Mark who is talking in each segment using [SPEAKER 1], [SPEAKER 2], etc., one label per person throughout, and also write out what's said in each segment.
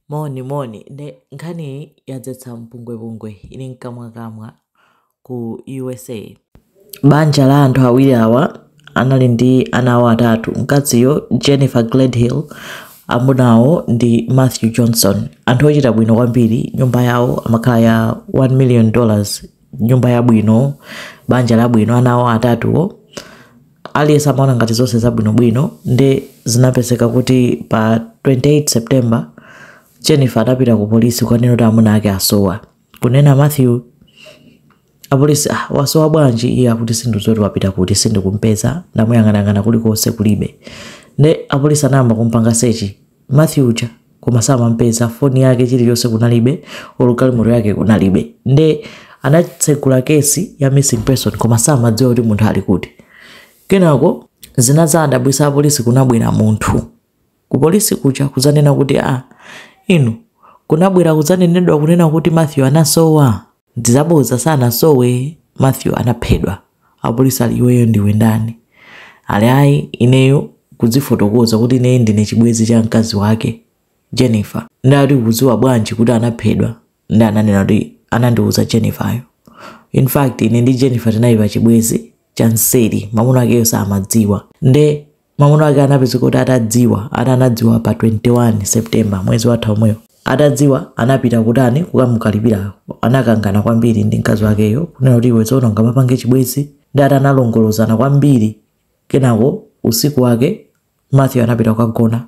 [SPEAKER 1] Moni, moni, nde nkhaniyi yadzetsa mpungwepungwe ili mkamwakamwa ku USA. Banja la anthu awiri awa anali ndi ana awo atatu, mkaziyo Jennifer Gledhill, amuna awo ndi Matthew Johnson, anthu ochita bwino kwambiri, nyumba yawo amakhala ya 1 million dollars, nyumba yabwino, banja labwino, ana awo atatuwo. Aliyense amaona ngati zonse zabwinobwino nde zinapezeka kuti pa 28 September Jennifer anapita ku polisi kukanena kuti amuna ake asowa. Kunena Matthew apolisi ah, wasowa bwanji iye akuti sindikudziwa wapita kuti sindikumpeza ndamuyang'anayang'ana kulikonse kulibe. Nde apolisi anayamba kumpanga sechi Matthew uja koma samampeza foni yake chilichonse kunalibe olo galimoto yake kunalibe nde anatsegula kesi ya missing person koma samadziwa kuti munthu ali kuti kenako zinazawadabwisa apolisi kunabwera munthu ku polisi kuja kudzanena kuti a inu kunabwera kudzanenedwa kunena kuti Matthew anasowa Ndizabodza sanasowe Matthew anaphedwa apolisi ali iweyo ndiwe ndani ali ayi ineyo kudzifotokoza kuti ine ndine chibwenzi cha mkazi wake Jennifer nde ati ukudziwa bwanji kuti anaphedwa nde ananena kuti anandiuza Jenniferyo in fact ine ndi Jennifer tinali pa chibwenzi cha nseri mamuna akeyo samadziwa nde Mamuna ake anapezeka kuti atadziwa, ati anadziwa pa 21 September mwezi watha omwewo. Atadziwa anapita kutani kukamukalipira, anakangana kwambiri ndi mkazi wakeyo kunena kuti iwe sungamapange chibwenzi nde ati analongolozana kwambiri. Kenako usiku wake Matthew anapita kukagona.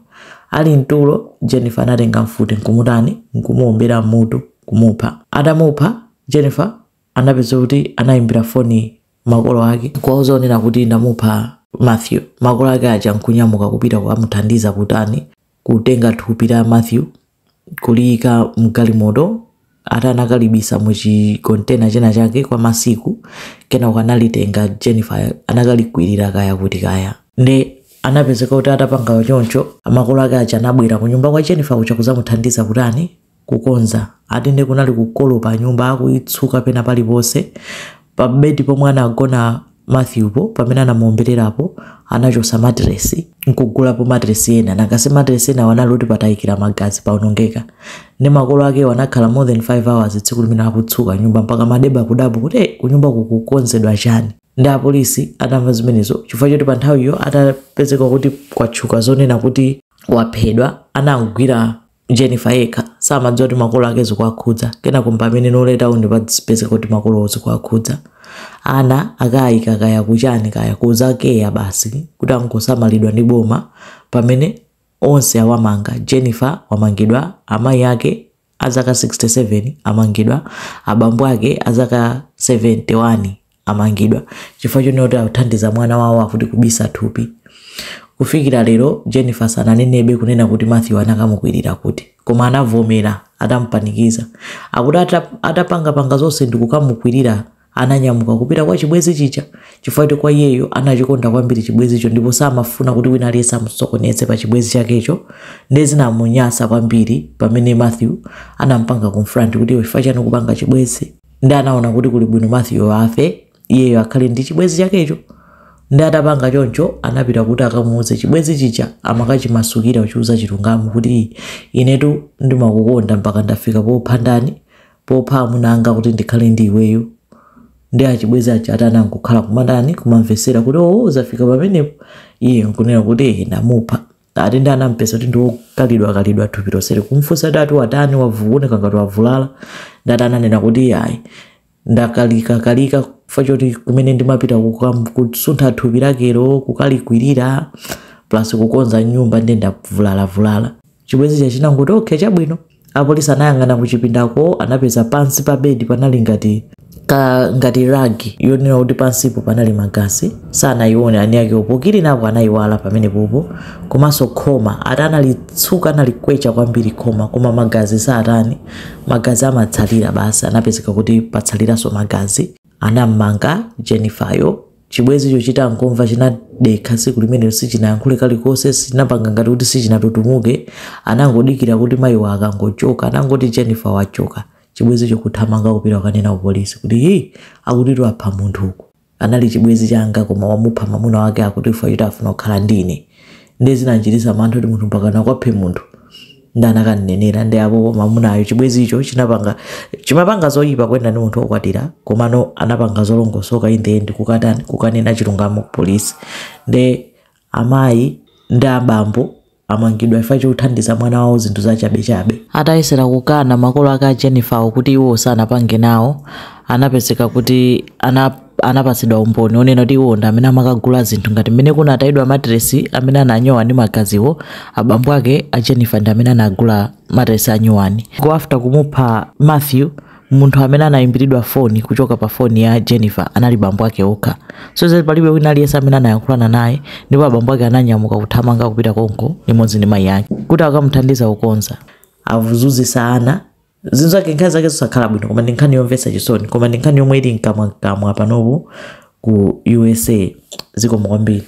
[SPEAKER 1] Ali mtulo Jennifer anatenga mfuti nkumutani nkumuombera mutu kumupha. Atamupha Jennifer anapezeka kuti anayimbira foni makolo ake nkuwauza zonena kuti ndamupha Matthew. Makolo ake aja nkunyamuka kupita kukamuthandiza kutani kutenga thupi la Matthew kuliyika mgalimoto ati anakalibisa mu chikontena china chake kwa masiku kenako analitenga Jennifer anakalikwirira kaya kuti kaya nde anapezeka kuti atapanga choncho makolo ake aja anabwera ku nyumba kwa Jennifer kuja kuzamuthandiza kutani kukonza. Ati nde kunali kukolopa nyumba akuitsuka pena paliponse. Pa bed pomwe anagona Matthewpo pamene anamuombelerapo anachosa mattress nkugulapo mattress ena nanga si mattress enawo anali oti patayikira magazi paonongeka. Nde makolo akewo anakhala more than 5 hours tsiku limenelo akutsuka nyumba mpaka maneba kudabwa kuti eh kunyumbaku kukukonzedwa chani. Nde apolisi atamva zimenezo chifukwa choti pa nthawiyo atapezeka kuti kwatuluka zonena kuti waphedwa anamgwira Jennifer yekha samadziwa kuti makolo ake zikuwakhudza, kenako mpamene later on ndi pazipezeka kuti makolowo zikuwakhudza. Ana akayika kaya kuchani kaya ku za care basi kuti angosamalidwa ndi boma pamene onse awamanga, Jennifer wamangidwa, amayi ake a zaka 67 amangidwa, abambo ake a zaka 71 amangidwa chifukwa chonena kuti athandiza mwana wawo akuti kubisa thupi kufikira lero jennifer sananenebe kunena kuti matthew anakamukwirira kuti koma anavomera atamupanikiza akuti ata- atapangapanga zonse ndikukamukwirira ananyamuka kupita kwa chibwenzi chija chifukwa kuti kwa iyeyo anachikonda kwambiri chibwenzicho ndipo samafuna kuti wina aliyense amusokoneze pa chibwenzi chakecho ndiye zinamunyasa kwambiri pamene matthew anampanga confront kuti iwe chifukwa chani kupanga chibwenzi ndi anaona kuti kuli bwino matthew afe iyeyo akhale ndi chibwenzi chakecho ndi atapanga choncho anapita kuti akamuuze chibwenzi chija amakachimasukira kuchiuza chilungamo kuti inetu ndimakukonda mpaka ndafika popha ndani popha amuna anga kuti ndikhale ndi iweyo ndi achibwenzi aja atani nkukhala kumatani kumamvesera kuti oo zafika pamenepo iye nkunena kuti "Eh, ndamupha ati ndi anampeza kuti ndi wokalidwa kalidwa thupi lonseli kumfunsa kuti ati watani wavu- ukuoneka ngati wavulala ndati ananena kuti iyayi ndakalika kalika chifukwa choti kumene ndimapita kukam- kusuntha thupi lakelo kukalikwirira plus kukonza nyumba ndi ndavulalavulala chibwenzi chija chinangoti okay chabwino Apolisi anayang'ana kuchipindako anapeza pansi pa bedi panali ngati ka ngati ragi yonena kuti pansipo panali magazi sanayione ani akewo pokirinapo anayiwala pamenepopo komanso khoma ati analitsuka analikwecha kwambiri khoma koma magazi satani magazi amatsalira basi anapezeka kuti patsaliranso magazi anam'manga Jennifer-yo Chibwenzicho chitangomva, chinadekha. Tsiku limenelo sichinayankhule kalikonse, sichinapanga ngati kuti sichinatutumuke. Anangodikira kuti mayiwo akangochoka. Anangoti Jennifer wachoka, chibwenzicho kuthamanga kupita kukanena kupolisi kuti, Ii! Akutitu apha munthu uku. Anali chibwenzi changa koma wamupha mwamuna wake akuti chifukwa choti afuna kukhala ndi ine. Ndiye zinandichititsa mantha kuti munthu mpakana akaphe munthu. ndi anakanenera ndi apo mamunayo chibwezicho chinapanga chimapanga zoyipa kuyenda ndi munthu wokwatira komano anapanga zolongosoka in the end kukatani kukanena chilungamo ku polisi ndi amayi ndi abambo amangidwa chifukwa chothandiza mwana wawo zinthu zachabechabe atayesera kukana makolo ake a jennifer wo kuti iwo sanapange nawo anapezeka kuti ana anapatsidwa umboni onena kuti iwo ndi amene amakagula zinthu ngati mmene kunatayidwa matiresi amene ananyowa ndi magaziwo abambo ake a jennifer ndi amene anagula matiresi anyowani after kumupha matthew munthu amene anayimbiridwa foni kuchoka pa foni ya jennifer anali bambo ake okha so palibe wina aliyense amene anayankhulana naye ndipo abambo ake ananyamuka kuthamanga kupita konko limodzi ndi mayi ake kuti akamuthandize kukonza avuzuzisa ana zinthu zake nkhani zake zosakhala bwino koma ndi nkhani yomvetsa chisoni koma ndi nkhani yomwe ili mkamwamkamwa panopo ku usa zikomo kwambiri